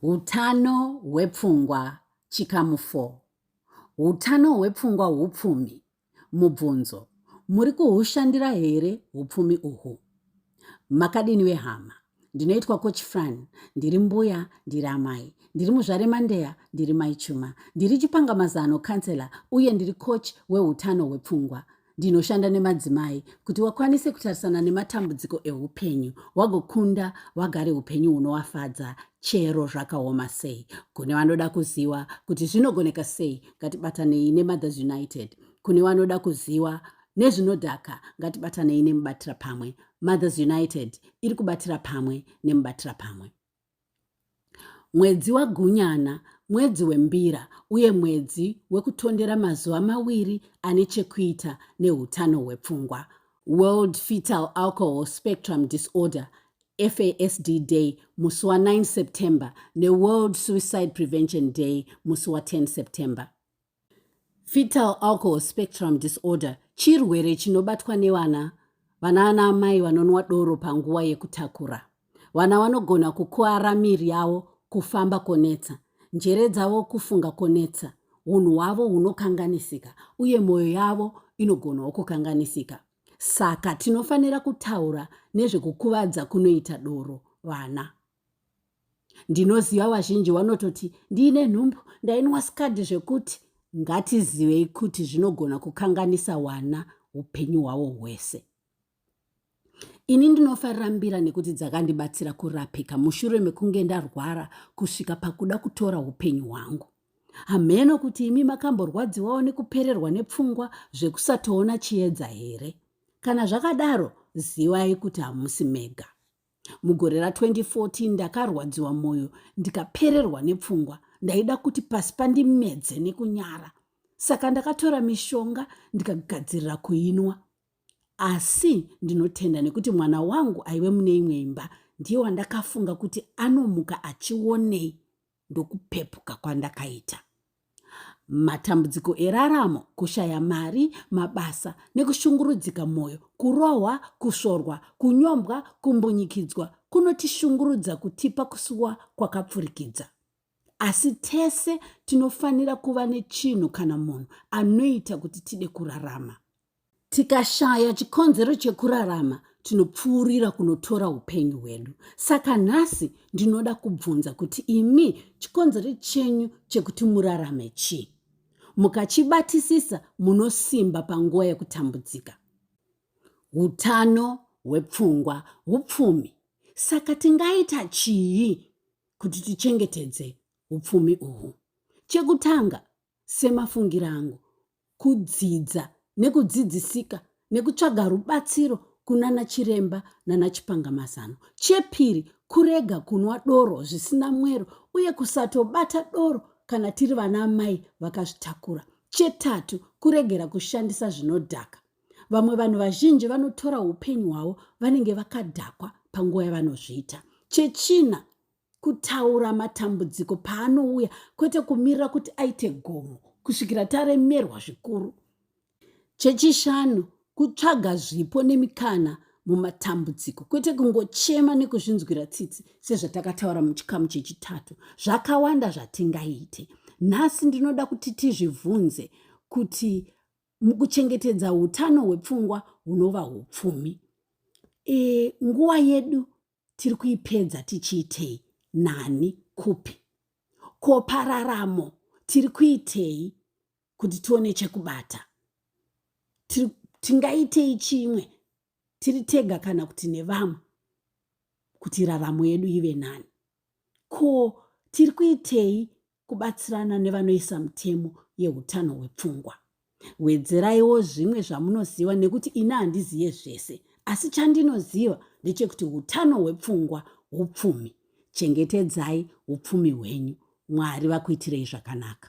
Utano hwepfungwa chikamu 4. Utano hwepfungwa hupfumi. Mubvunzo, muri kuhushandira here hupfumi uhu? Makadini vehama? Ndinoitwa Coach Fran, ndiri mbuya, ndiri amai, ndiri muzvare Mandeya, ndiri mai Chuma, ndiri chipanga mazano counselor uye ndiri coach weutano hwepfungwa. ndinoshanda nemadzimai kuti wakwanise kutarisana nematambudziko eupenyu wagokunda wagare upenyu hunowafadza chero zvakaoma sei kune vanoda kuziva kuti zvinogoneka sei ngatibatanei nemothers united kune vanoda kuziva nezvinodhaka ngatibatanei nemubatira pamwe mothers united iri kubatira pamwe nemubatira pamwe Mwedzi waGunyana mwedzi wembira uye mwedzi wekutondera mazuva mawiri ane chekuita neutano hwepfungwa. World Fetal Alcohol Spectrum Disorder, FASD Day, musi wa 9 September neWorld Suicide Prevention Day, musi wa 10 September. Fetal alcohol spectrum disorder chirwere chinobatwa nevana vana ana amai vanonwa doro panguva yekutakura. Vana vanogona kukuara miri yavo, kufamba konetsa, njere dzavo kufunga konetsa, unhu hwavo hunokanganisika uye mwoyo yavo inogonawo kukanganisika. Saka tinofanira kutaura nezvekukuvadza kunoita doro vana. ndinoziva vazhinji vanototi ndiine nhumbu ndainwa skadi zvekuti ngatizivei kuti zvinogona kukanganisa wana upenyu hwavo hwese ini ndinofarira mbira nekuti dzakandibatsira kurapika mushure mekunge ndarwara kusvika pakuda kutora upenyu hwangu hamheno kuti imi makamborwadziwawo nekupererwa nepfungwa zvekusatoona chiedza here kana zvakadaro zivai kuti hamusi mega mugore ra 2014 ndakarwadziwa mwoyo ndikapererwa nepfungwa ndaida kuti pasi pandimedze nekunyara saka ndakatora mishonga ndikagadzirira kuinwa asi ndinotenda nekuti mwana wangu aive mune imwe imba ndiye wandakafunga kuti anomuka achionei ndokupepuka kwandakaita matambudziko eraramo kushaya mari mabasa nekushungurudzika mwoyo kurohwa kusvorwa kunyombwa kumbunyikidzwa kunotishungurudza kutipa kusuwa kwakapfurikidza asi tese tinofanira kuva nechinhu kana munhu anoita kuti tide kurarama Tikashaya chikonzero chekurarama, tinopfuurira kunotora upenyu hwedu. Saka nhasi ndinoda kubvunza kuti imi chikonzero chenyu chekuti murarame chii? Mukachibatisisa munosimba panguva yekutambudzika. Utano hwepfungwa, upfumi. Saka tingaita chii kuti tichengetedze upfumi uhwu? Chekutanga, Semafungiro angu, kudzidza nekudzidzisika nekutsvaga rubatsiro kunana chiremba nana chipangamazano. Chepiri, kurega kunwa doro zvisina mwero uye kusatobata doro kana tiri vana amai vakazvitakura. Chetatu, kuregera kushandisa zvinodhaka. Vamwe vanhu vazhinji vanotora upenyu hwavo vanenge vakadhakwa panguva yavanozviita. Chechina, kutaura matambudziko paanouya kwete kumirira kuti aite gomo kusvikira taremerwa zvikuru chechishanu kutsvaga zvipo nemikana mumatambudziko kwete kungochema nekuzvinzwira tsitsi sezvatakataura muchikamu chechitatu zvakawanda zvatingaite nhasi ndinoda kuti tizvibvunze kuti mukuchengetedza utano hwepfungwa hunova upfumi e, nguva yedu tiri kuipedza tichiitei nani kupi ko pararamo tiri kuitei kuti tione chekubata tingaitei chimwe tiri tega kana kuti nevamwe kuti raramo yedu ive nani ko tiri kuitei kubatsirana nevanoisa mutemo yeutano hwepfungwa wedzeraiwo zvimwe zvamunoziva nekuti ini handizive zvese asi chandinoziva ndechekuti utano hwepfungwa upfumi chengetedzai upfumi hwenyu mwari vakuitirei zvakanaka